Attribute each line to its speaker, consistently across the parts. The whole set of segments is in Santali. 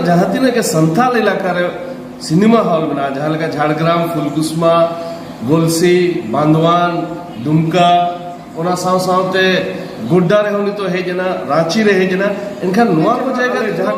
Speaker 1: ᱡᱟᱦᱟᱸ ᱛᱤᱱᱟᱹᱜ ᱜᱮ ᱥᱟᱱᱛᱟᱞ ᱮᱞᱟᱠᱟ ᱨᱮ ᱥᱤᱱᱮᱢᱟ ᱦᱚᱞ ᱢᱮᱱᱟᱜᱼᱟ ᱡᱟᱦᱟᱸ ᱞᱮᱠᱟ ᱡᱷᱟᱲᱜᱨᱟᱢ ᱯᱷᱩᱞᱠᱩᱥᱢᱟ ᱜᱚᱞᱥᱤ ᱵᱟᱸᱫᱣᱟᱱ ᱫᱩᱢᱠᱟ ᱚᱱᱟ ᱥᱟᱶ ᱥᱟᱶᱛᱮ ᱜᱳᱰᱰᱟ ᱨᱮᱦᱚᱸ ᱱᱤᱛᱚᱜ ᱦᱮᱡ ᱮᱱᱟ ᱨᱟᱺᱪᱤ ᱨᱮ ᱦᱮᱡ ᱮᱱᱟ ᱮᱱᱠᱷᱟᱱ ᱱᱚᱣᱟ ᱠᱚ ᱡᱟᱭᱜᱟ ᱨᱮ ᱡᱟᱦᱟᱸ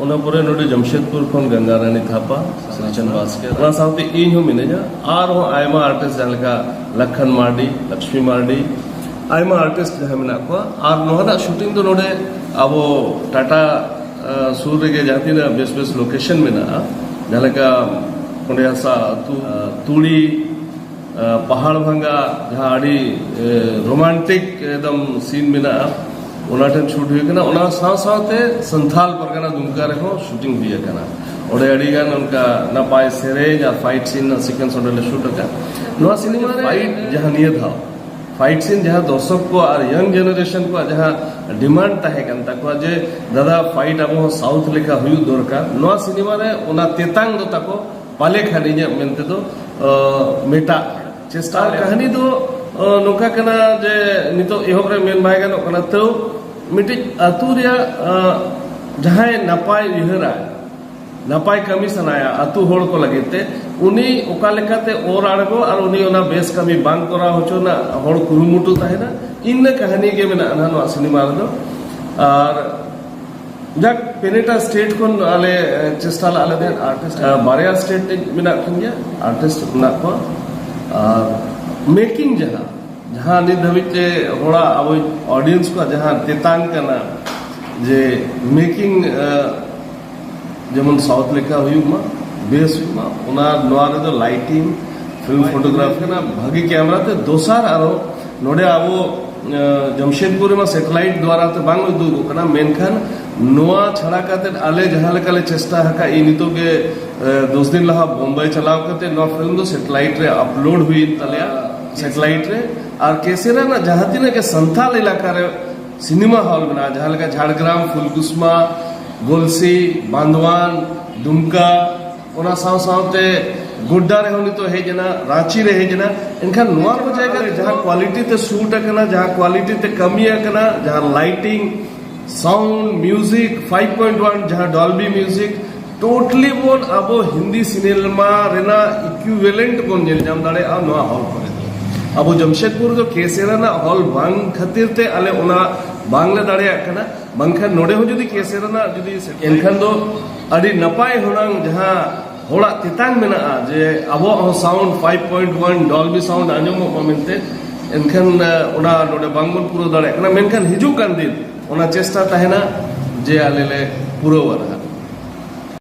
Speaker 1: ᱚᱱᱟ ᱯᱚᱨᱮ ᱱᱚᱰᱮ ᱡᱟᱢᱥᱮᱫᱽᱯᱩᱨ ᱠᱷᱚᱱ ᱜᱟᱝᱜᱟ ᱨᱟᱱᱤ ᱛᱷᱟᱯᱟ ᱥᱨᱤᱪᱚᱱ ᱵᱟᱥᱠᱮ ᱚᱱᱟ ᱥᱟᱶᱛᱮ ᱤᱧ ᱦᱚᱸ ᱢᱤᱱᱟᱹᱧᱟ ᱟᱨᱦᱚᱸ ᱟᱭᱢᱟ ᱟᱨᱴᱤᱥᱴ ᱡᱟᱦᱟᱸ ᱞᱮᱠᱟ ᱞᱟᱠᱷᱟᱱ ᱢᱟᱨᱰᱤ ᱞᱚᱠᱥᱢᱤ ᱢᱟᱨᱰᱤ ᱟᱭᱢᱟ ᱟᱨᱴᱤᱥᱴ ᱡᱟᱦᱟᱸ ᱢᱮᱱᱟᱜ ᱠᱚᱣᱟ ᱟᱨ ᱱᱚᱣᱟ ᱨᱮᱱᱟᱜ ᱥᱩᱴᱤᱝ ᱫᱚ ᱱᱚᱰᱮ ᱟᱵᱚ ᱴᱟᱴᱟ ᱥᱩᱨ ᱨᱮᱜᱮ ᱡᱟᱦᱟᱸ ᱛᱤᱱᱟᱹᱜ ᱵᱮᱥ ᱵᱮᱥ ᱞᱳᱠᱮᱥᱚᱱ ᱢᱮᱱᱟᱜᱼᱟ ᱡᱟᱦᱟᱸ ᱞᱮᱠᱟ ᱚᱸᱰᱮ ᱦᱟᱥᱟ ᱟᱹᱛᱩ ᱛᱩᱲᱤ ᱯᱟᱦᱟᱲ ᱵᱷᱟᱸᱜᱟ ᱡᱟᱦᱟᱸ ᱟᱹᱰᱤ ᱨᱳᱢᱟᱱᱴᱤᱠ ᱮᱠᱫᱚᱢ ᱥᱤᱱ ᱢᱮᱱᱟᱜᱼᱟ ᱚᱱᱟ ᱴᱷᱮᱱ ᱥᱩᱴ ᱦᱩᱭ ᱟᱠᱟᱱᱟ ᱚᱱᱟ ᱥᱟᱶ ᱥᱟᱶᱛᱮ ᱥᱟᱱᱛᱷᱟᱞ ᱯᱟᱨᱜᱟᱱᱟ ᱫᱩᱢᱠᱟ ᱨᱮᱦᱚᱸ ᱥᱩᱴᱤᱝ ᱦᱩᱭ ᱟᱠᱟᱱᱟ ᱚᱸᱰᱮ ᱟᱹᱰᱤ ᱜᱟᱱ ᱚᱱᱠᱟ ᱱᱟᱯᱟᱭ ᱥᱮᱨᱮᱧ ᱟᱨ ᱯᱷᱟᱭᱤᱴ ᱥᱤᱱ ᱨᱮᱱᱟᱜ ᱥᱤᱠᱩᱭᱮᱱᱥ ᱚᱸᱰᱮ ᱞᱮ ᱥᱩᱴ ᱟᱠᱟᱫ ᱱᱚᱣᱟ ᱥᱤᱱᱮᱢᱟ ᱨᱮ ᱯᱷᱟᱭᱤᱴ ᱡᱟᱦᱟᱸ ᱱᱤᱭᱟᱹ ᱫᱷᱟᱣ ᱯᱷᱟᱭᱤᱴ ᱥᱤᱱ ᱡᱟᱦᱟᱸ ᱫᱚᱨᱥᱚᱠ ᱠᱚ ᱟᱨ ᱭᱚᱝ ᱡᱮᱱᱟᱨᱮᱥᱚᱱ ᱠᱚᱣᱟᱜ ᱡᱟᱦᱟᱸ ᱰᱤᱢᱟᱱᱰ ᱛᱟᱦᱮᱸ ᱠᱟᱱ ᱛᱟᱠᱚᱣᱟ ᱡᱮ ᱫᱟᱫᱟ ᱯᱷᱟᱭᱤᱴ ᱟᱵᱚ ᱥᱟᱣᱩᱛᱷ ᱞᱮᱠᱟ ᱦᱩᱭᱩᱜ ᱫᱚᱨᱠᱟᱨ ᱱᱚᱣᱟ ᱥᱤᱱᱮᱢᱟ ᱨᱮ ᱚᱱᱟ ᱛᱮᱛᱟᱝ ᱫᱚ ᱛᱟᱠᱚ ᱯᱟᱞᱮ ᱠᱷᱟᱱ ᱤᱧᱟᱹᱜ ᱢᱮᱱ ᱛᱮᱫᱚ ᱢᱮᱴᱟᱜ ᱪᱮᱥᱴᱟ ᱠᱟᱹᱦᱱᱤ ᱫᱚ ᱱᱚᱝᱠᱟ ᱠᱟᱱᱟ ᱡᱮ ᱱᱤᱛᱚᱜ ᱮᱦᱚᱵ ᱨᱮ ᱢᱮᱱ ᱵᱟᱭ ᱜᱟᱱᱚᱜ ᱠᱟᱱᱟ ᱛᱟᱹᱣ ᱢᱤᱫᱴᱤᱡ ᱟᱹᱛᱩ ᱨᱮᱭᱟᱜ ᱡᱟᱦᱟᱸᱭ ᱱᱟᱯᱟᱭ ᱩᱭᱦᱟᱹᱨᱟ ᱱᱟᱯᱟᱭ ᱠᱟᱹᱢᱤ ᱥᱟᱱᱟᱭᱟ ᱟᱹᱛᱩ ᱦᱚᱲ ᱠᱚ ᱞᱟᱹᱜᱤᱫ ᱛᱮ ᱩᱱᱤ ᱚᱠᱟ ᱞᱮᱠᱟᱛᱮ ᱚᱨ ᱟᱬᱜᱚ ᱟᱨ ᱩᱱᱤ ᱚᱱᱟ ᱵᱮᱥ ᱠᱟᱹᱢᱤ ᱵᱟᱝ ᱠᱚᱨᱟᱣ ᱦᱚᱪᱚ ᱨᱮᱱᱟᱜ ᱦᱚᱲ ᱠᱩᱨᱩᱢᱩᱴᱩ ᱛᱟᱦᱮᱱᱟ ᱤᱱᱟᱹ ᱠᱟᱹᱦᱱᱤ ᱜᱮ ᱢᱮᱱᱟᱜᱼᱟ ᱱᱚᱣᱟ ᱥᱤᱱᱮᱢᱟ ᱨᱮᱫᱚ ᱟᱨ ᱡᱟᱠ ᱯᱮᱱᱮᱴᱟ ᱥᱴᱮᱴ ᱠᱷᱚᱱ ᱟᱞᱮ ᱪᱮᱥᱴᱟ ᱞᱟᱜ ᱞᱮᱫᱮ ᱟᱨᱴᱤᱥᱴ ᱵᱟᱨᱭᱟ ᱥᱴᱮᱴ ᱨᱮ ᱢᱮᱱᱟᱜ ᱠᱤᱱ ᱜᱮᱭᱟ ᱟᱨᱴᱤᱥᱴ ᱢᱮᱱᱟᱜ ᱠᱚᱣᱟ ᱟᱨ ᱢᱮᱠᱤᱝ ᱡᱟᱦᱟᱸ ᱡᱟᱦᱟᱸ ᱱᱤᱛ ᱫᱷᱟᱹᱵᱤᱡ ᱛᱮ ᱦᱚᱲᱟᱜ ᱟᱵᱚ ᱚᱰᱤᱭᱮᱱᱥ ᱠᱚᱣᱟᱜ ᱡᱟᱦᱟᱸ ᱛᱮᱛᱟᱝ ᱠᱟᱱᱟ ᱡᱮ ᱢᱮᱠᱤᱝ ᱡᱮᱢᱚᱱ ᱥᱟᱣᱩᱛ ᱞᱮᱠᱟ ᱦᱩᱭᱩᱜ ᱢᱟ ᱵᱮᱥ ᱦᱩᱭᱩᱜ ᱢᱟ ᱚᱱᱟ ᱱᱚᱣᱟ ᱨᱮᱫᱚ ᱞᱟᱭᱴᱤᱝ ᱯᱷᱤᱞᱢ ᱯᱷᱳᱴᱳᱜᱨᱟᱯᱷ ᱠᱟᱱᱟ ᱵᱷᱟᱹᱜᱤ ᱠᱮᱢᱮᱨᱟ ᱛᱮ ᱫᱚᱥᱟᱨ ᱟᱨᱚ ᱱᱚᱰᱮ ᱟᱵᱚ ᱡᱟᱢᱥᱮᱫᱽᱯᱩᱨ ᱨᱮᱢᱟ ᱥᱮᱴᱮᱞᱟᱭᱤᱴ ᱫᱣᱟᱨᱟ ᱛᱮ ᱵᱟᱝ ᱩᱫᱩᱜᱚᱜ ᱠᱟᱱᱟ ᱢᱮᱱᱠᱷᱟᱱ ᱱᱚᱣᱟ ᱪᱷᱟᱲᱟ ᱠᱟᱛᱮ ᱟᱞᱮ ᱡᱟᱦᱟᱸ ᱞᱮᱠᱟ ᱞᱮ ᱪᱮᱥᱴᱟ ᱟᱠᱟᱫ ᱤᱧ ᱱᱤᱛᱚᱜ ᱜᱮ ᱫᱚᱥ ᱫᱤᱱ ᱞᱟᱦᱟ ᱵᱳᱢᱵᱟᱭ ᱪᱟᱞᱟᱣ ᱠᱟᱛᱮ ᱱᱚᱣᱟ ᱯᱷᱤᱞᱢ ᱫᱚ ᱥᱮᱴᱮᱞᱟᱭᱤᱴ ᱨᱮ ᱟᱯᱞᱳᱰ ᱦᱩᱭᱮᱱ ᱛᱟᱞᱮᱭᱟ ᱥᱮᱴᱮᱞᱟᱭᱤᱴ ᱨᱮ ᱟᱨ ᱠᱮᱥᱮᱨ ᱨᱮᱱᱟᱜ ᱡᱟᱦᱟᱸ ᱛᱤᱱᱟᱹᱜ ᱜᱮ ᱥᱟᱱᱛᱟᱞ ᱮᱞᱟᱠᱟ ᱨᱮ ᱥᱤᱱᱮᱢᱟ ᱦᱚᱞ ᱢᱮᱱᱟᱜᱼᱟ ᱡᱟᱦᱟᱸ ᱞᱮᱠᱟ ᱡᱷᱟᱲᱜᱨᱟᱢ ᱯᱷᱩᱞᱠᱩᱥᱢᱟ ᱜᱚᱞᱥᱤ ᱵᱟᱸᱫᱣᱟᱱ ᱫᱩᱢᱠᱟ ᱚᱱᱟ ᱥᱟᱶ ᱥᱟᱶᱛᱮ ᱜᱳᱰᱰᱟ ᱨᱮᱦᱚᱸ ᱱᱤᱛᱚᱜ ᱦᱮᱡ ᱮᱱᱟ ᱨᱟᱺᱪᱤ ᱨᱮ ᱦᱮᱡ ᱮᱱᱟ ᱮᱱᱠᱷᱟᱱ ᱱᱚᱣᱟ ᱠᱚ ᱡᱟᱭᱜᱟ ᱨᱮ ᱡᱟᱦᱟᱸ ᱠᱣᱟᱞᱤᱴᱤ ᱛᱮ ᱥᱩᱴ ᱟᱠᱟᱱᱟ ᱡᱟᱦᱟᱸ ᱠᱣᱟᱞᱤᱴᱤ ᱛᱮ ᱠᱟᱹᱢᱤ ᱟᱠᱟᱱᱟ ᱡᱟᱦᱟᱸ ᱞᱟᱭᱴᱤᱝ ᱥᱟᱣᱩᱱᱰ ᱢᱤᱭᱩᱡᱤᱠ 5.1 ᱡᱟᱦᱟᱸ ᱰᱚᱞᱵᱤ ᱢᱤᱭᱩᱡᱤᱠ ᱴᱳᱴᱟᱞᱤ ᱵᱚᱱ ᱟᱵᱚ ᱦᱤᱱᱫᱤ ᱥᱤᱱᱮᱢᱟ ᱨᱮᱱᱟᱜ ᱤᱠᱩᱭᱵᱷᱮᱞᱮᱱᱴ ᱵᱚᱱ ᱧᱮᱞ ᱧᱟᱢ ᱫᱟᱲᱮᱭᱟᱜᱼᱟ ᱱᱚᱣᱟ ᱦᱚᱞ ᱠᱚᱨᱮ ᱫᱚ ᱟᱵᱚ ᱡᱟᱢᱥᱮᱫᱽᱯᱩᱨ ᱫᱚ ᱠᱮᱥᱮ ᱨᱮᱱᱟᱜ ᱦᱚᱞ ᱵᱟᱝ ᱠᱷᱟᱹᱛᱤᱨ ᱛᱮ ᱟᱞᱮ ᱚᱱᱟ ᱵᱟᱝᱞᱮ ᱫᱟᱲᱮᱭᱟᱜ ᱠᱟᱱᱟ ᱵᱟᱝᱠᱷᱟᱱ ᱱᱚᱰᱮ ᱦᱚᱸ ᱡᱩᱫᱤ ᱠᱮᱥᱮ ᱨᱮᱱᱟᱜ ᱡᱩᱫᱤ ᱮᱱᱠᱷᱟᱱ ᱫᱚ ᱟᱹᱰᱤ ᱱᱟᱯᱟᱭ ᱦᱩᱱᱟᱹᱝ ᱡᱟᱦᱟᱸ ᱦᱚᱲᱟᱜ ᱛᱮᱛᱟᱝ ᱢᱮᱱᱟᱜᱼᱟ ᱡᱮ ᱟᱵᱚᱣᱟᱜ ᱦᱚᱸ ᱥᱟᱣᱩᱱᱰ 5.1 ᱰᱚᱞᱵᱤ ᱥᱟᱣᱩᱱᱰ ᱟᱸᱡᱚᱢᱚᱜ ᱢᱟ ᱢᱮᱱᱛᱮ ᱮᱱᱠᱷᱟᱱ ᱚᱱᱟ ᱱᱚᱰᱮ ᱵᱟᱝᱵᱚᱱ ᱯᱩᱨᱟᱹᱣ ᱫᱟᱲᱮᱭᱟᱜ ᱠᱟᱱᱟ ᱢᱮᱱᱠᱷᱟᱱ ᱦᱤᱡᱩᱜ ᱠᱟᱱ ᱫᱤᱱ ᱚᱱᱟ ᱪᱮᱥᱴᱟ ᱛᱟᱦᱮᱱᱟ ᱡᱮ ᱟᱞᱮ ᱞᱮ ᱯᱩᱨᱟᱹᱣᱟ